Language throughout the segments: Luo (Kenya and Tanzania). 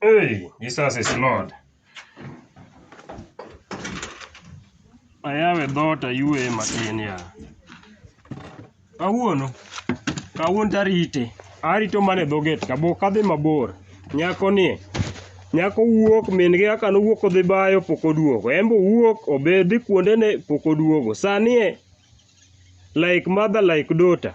Hey, Jesus is Lord. Ayawe dhoot ayueye matin ya. Kawuono, kawuono tarite. Arito mana e dho gate ka bok adhi mabor. Nyako ni, nyako wuok min gi kaka nowuok odhi bayo pok oduogo. En be owuok obe dhi kuonde ne pok oduogo. Sani e like mother like daughter.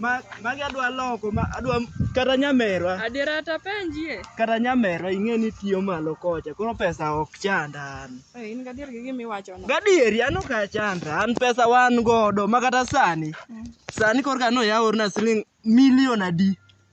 Ma magi adwa loko ma adwa kata nyamerwa. Adiera ta penjie. Kata nyamerwa ing'e ni tiyo malo kocha koro pesa ok chanda an. Eh, in gadier gi gima iwacho no. Gadieri an ok achanda an pesa wan godo ma kata sani. Mm. Sani korka no yaworna siling' milion adi.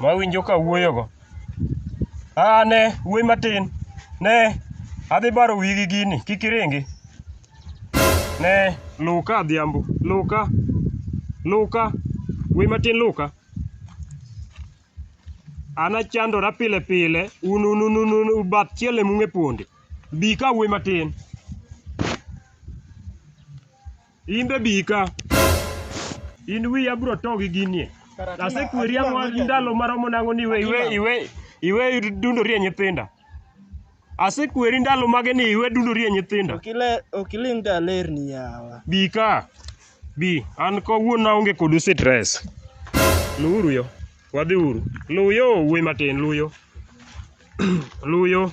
mawinjo ka wuoyogo. Aa ne, wuoyi matin, ne, adhi baro wiyi gi gini, kik iringi. Ne, luw ka Adhiambo, luw ka, luw ka, wuoyi matin luw ka. An achandora pile pile, un un un un un un bath chiel ema ung'e ponde. Bi ka wuoyi matin. In be bi ka. In wiyi abro to gi ginie. Asekweri ang'o ndalo maromo nang'o ni iwe iwe iwe iwe dundori e nyithinda. Asekweri ndalo mage ni iwe dundori e nyithinda. Ok iling' ka alerni yawa. Bi ka. Bi. An kawuono aonge kodu stress. Luwuru yo. Wadhiuru. Luw yo wuoyi matin, luw yo. Luw yo.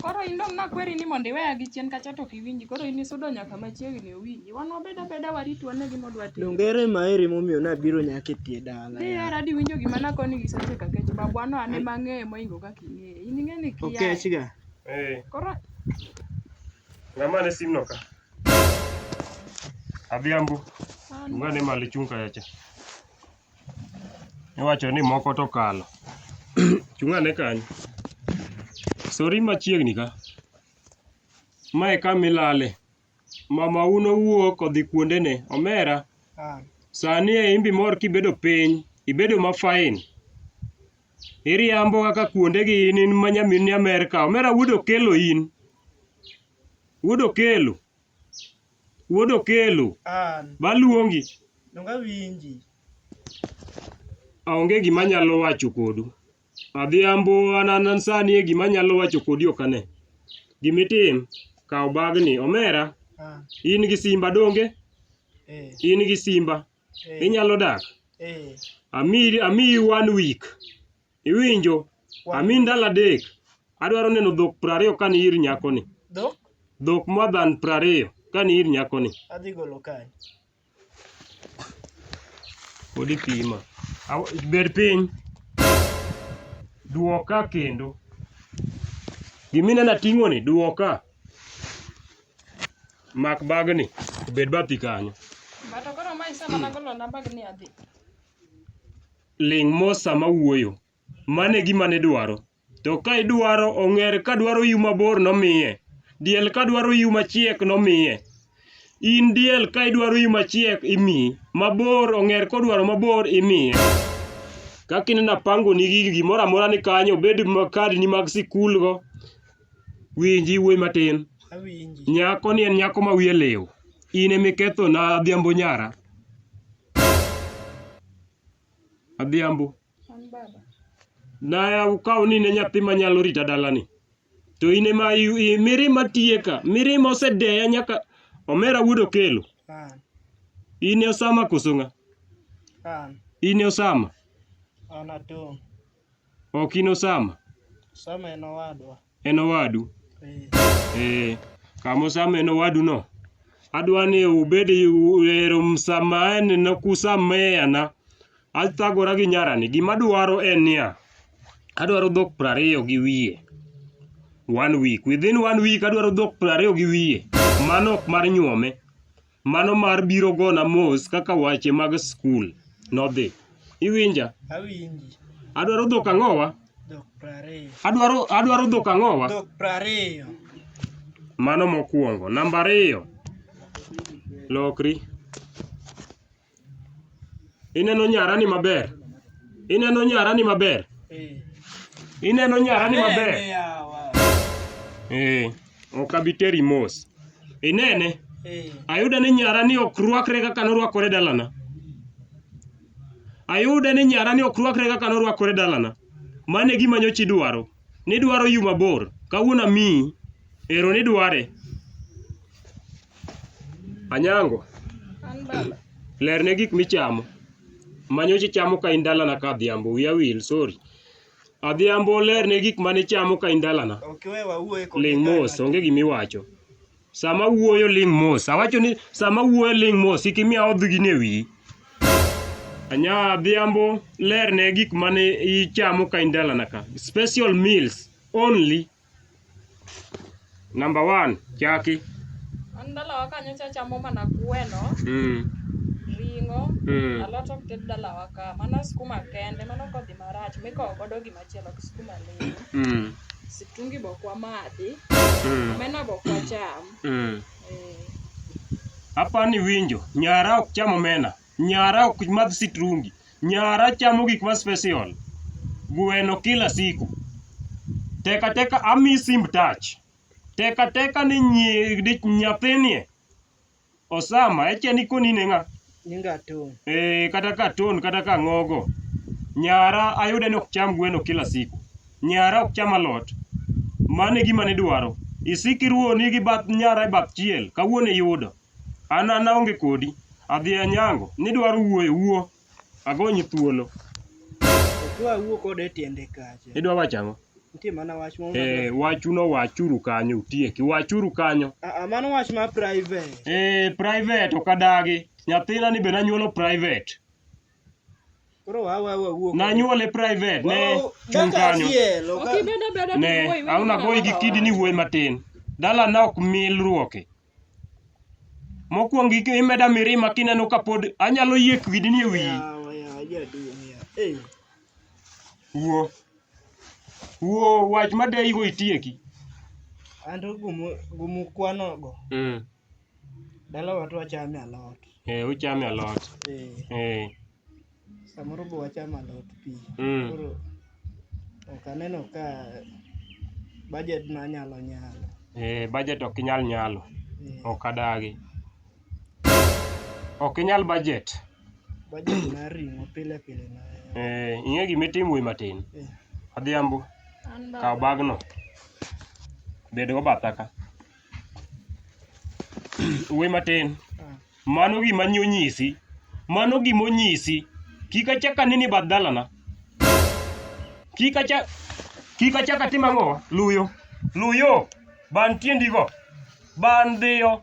Koro in dong' nakweri ni mondo iweya gi chien kacha to ok iwinji. Koro in isudo nyaka machiegni owinji. Wan wabed abeda warit wane gima odwa timo. Donge ere maeri momiyo nabiro nyaka e tie dala? Dhi hera di winjo gima nakoni gi seche ka kech babwa no ane mang'eye moingo kaka ing'eye. In ing'e ni kia. Okech ga. Eh, Koro ng'ama ne simno ka? Adhiambo, an ungane malo ichung' kacha cha. Iwacho ni moko to okalo. Chung' ane kanyo. Sori machiegni ka. Ma e kama ilale. Mamau nowuok odhi kuondene. Omera, sani e in be imor kibedo piny. Ibedo ma fine. Iriambo kaka kuondegi in in ma nyamin Amerka. Omera wuod Okello in. Wuod Okello. Wuod Okelo. An. Baluongi. Donga winji. Aonge gima nyalo wacho kodu. Adhiambo an sani e gima nyalo wacho kodi ok ane. Gima itim, kaw bagni. Omera, ah. in gi simba donge? Eh. In gi simba. Eh. Inyalo dak? Eh. Amiyi one week. Iwinjo? Ami ndalo adek. Adwaro neno dhok prariyo ka ni ir nyakoni. Dhok? Dhok more than prariyo ka ni ir nyakoni. Adhi golo kae. Pod ipima. Aw- Bed piny. Duoka kendo. Giminena ting'oni, duoka. Mak bagni, obed bathi kanyo. Bato koro ma isemana golo na bag ni adhi. ling' mos sama awuoyo. Mano e gima nidwaro. To ka idwaro ong'er ka dwaro iu mabor nomiye. Diel ka dwaro iu machiek nomiye. In diel ka idwaro iu machiek imiyi. Mabor ong'er kodwaro mabor imiye. Kaka ineno apangoni gigi gimoro amora ni kanyo obed ma kadni mag sikulgo. Winji wuoyi matin. Awinji. Nyako ni en nyako ma wiye liw. In emikethona Adhiambo nyara. Adhiambo. Naya ukaw ni ne nyathi manyalo rita dalani. To in ema mirima tiye ka. Mirima osedeya nyaka omera wuod okelo. In e Osama koso ng'a? In e Osama. An atong'. Ok in Osama? Osama en owadwa. En owadu? Ee. Eh, kama Osama en owaduno, adwa ni ubed ero msamaene na kusameana. Athagora gi nyarani, gima adwaro en niya, adwaro dhok prariyo gi wiye. One week. Within one week adwaro dhok prariyo gi wiye. Mano ok mar nyuome. Mano mar biro gona mos kaka wache mag skul nodhi. Iwinja? Awinji. Adwaro dhok ang'owa? Dhok prariyo. Adwaro, adwaro dhok ang'owa? Dhok prariyo. Mano mokwongo. Namba ariyo, lokri. Ineno nyarani maber? Ineno nyarani maber? Ineno nyarani maber? Eh, ok abi teri mos. Inene? Ayudo ni nyarani ok rwakre kaka norwakore dalana. Ayudo ni nyarani ok rwakre kaka norwakore dalana. Mano e gima nyocha idwaro. Nidwaro yu mabor, kawuono amiyi, ero nidware. Anyango, lerne gik michamo. Manyocha ichamo ka in dalana ka Adhiambo, wiya wil, sorry. Adhiambo lerne gik manichamo ka in dalana. Ling' mos, onge gimiwacho. Sama wuoyo ling' mos. Awacho ni sama wuoyo ling' mos, kik imiya odh gini e wiyi. Anya Adhiambo, ler ne gik mane ichamo ka in dalana ka. Special meals only. Number one, chaki. An dalawa kanyo cha chamo mana gweno, Mm. ring'o, Mm. alot ok ted dalawa ka. Mana skuma kende, mano kodhi marach mikowo godo gima Chielo gi skuma lilo. Mm. Situngi bok wamadhi. Mm. Omena bok wacham. Mm. Eh. Hapa ni winjo, nyara ok cham omena, nyara ok madh sitrungi, nyara chamo gik ma special. Gweno kila siku. Teka teka ami simb touch. Teka teka ni nyi, di, nyathinie Osama, ekia ni koni ne ng'a? Nyinga Atun. Eh, kata ka Atun kata ka Ng'ogo. Nyara ayude ni ok cham gweno kila siku. Nyara ok cham alot. Mano e gima nidwaro. Isik iruoni gi bath nyara e bath chiel. Kawuono iyudo. An an aonge kodi. Adhi anyango. Nidwaro wuoyo, wuo. Agony thuolo. Kwa wuo kode tiende kacha. Idwa wacho ang'o? Nitie mana wach moro. Eh, wachu no wachuru kanyo utieki. Wachuru kanyo. Ah, ah mano wach ma private. Eh, private ok adagi. Nyathina ni be nanyuolo private. Koro wa wa wa wuo. Nanyuole private ne chung kanyo. Ne, auna goyi gi kidi ni wuoyi matin. Dala na ok milruoke. Mokwongo imeda mirima kineno ka pod anyalo yie kwidni e wiyi. Wuo. Wuo wach ma deyigo itieki. An to gumu kwanogo. Mm. Dalawa to wachame alot. Eh, uchame alot. Eh. Eh. Samoro be wachamo alot pi. Mm. Koro ok aneno ka budget na nyalo nyalo. Eh, budget ok inyal nyalo. Eh, Ok adagi. Ok inyal budget. budget mar ring'o pile pile na. Eh, ing'e gima itimo wuoyi matin. Eh, Adhiambo, An kaw baba. bagno. Bed go batha ka. Wuoyi matin. Mano gima nyi onyisi. Mano gima onyisi. Kik achak aneni e bath dalana. Kik achak kik achak atim ang'o? Luyo. Luyo. Ban tiendigo. Ban dhiyo.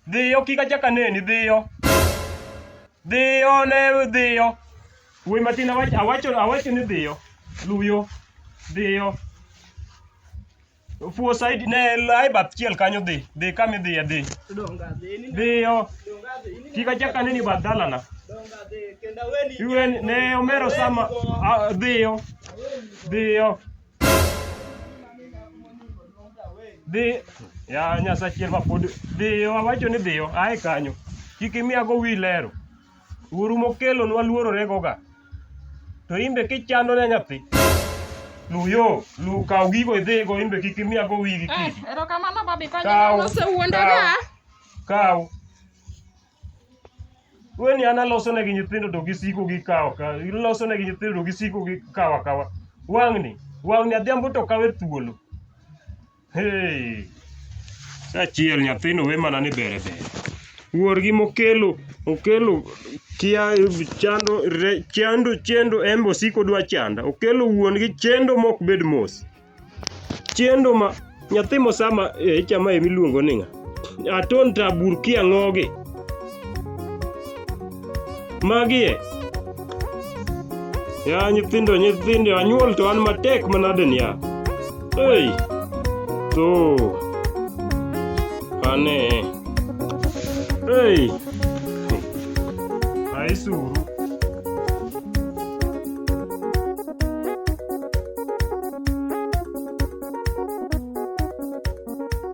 Dhiyo kik achak aneni. Dhiyo. Dhiyo ne dhiyo. Wuoy matin awacho awacho ni dhiyo. Luyo. Dhiyo. Fuo saidi ne lai bath chiel kanyo dhi, dhi kama idhiye dhi. Dhiyo. Kik achak aneni bath dalana. Iwe ne omero sama a- dhiyo. Dhiyo. Dhi. Ya Nyasaye chiel ma pod dhiyo awacho ni dhiyo ae kanyo. Kik imiyago wi lero. Uru mokelonwa luororegoga. To imbe kichando ne nyathi. Luyo, lu kaw gigo idhigo imbe kik imiyago wigi eh, kidi. Erokamano babi konyo osewuondaga. Kaw. Weni an aloso negi nyithindo to gisiko gi kawa kawa. Iloso negi nyithindo to gisiko gi kawa kawa. Wang'ni, wang'ni adhiambo to kawe thuolo. Hey. Sachiel nyathino we mana ni bere bere. Wuorgi mokelo okelo kia chando re, chando chendo embe osiko dwa chanda. Okelo wuongi chendo mok bed mos. Chendo ma nyathi mosama e chama emiluongo ni ng'a? aton ta burkia ng'ogi magie ya nyithindo nyithindo anyuol to an matek manade niya ei to ane ei aisuru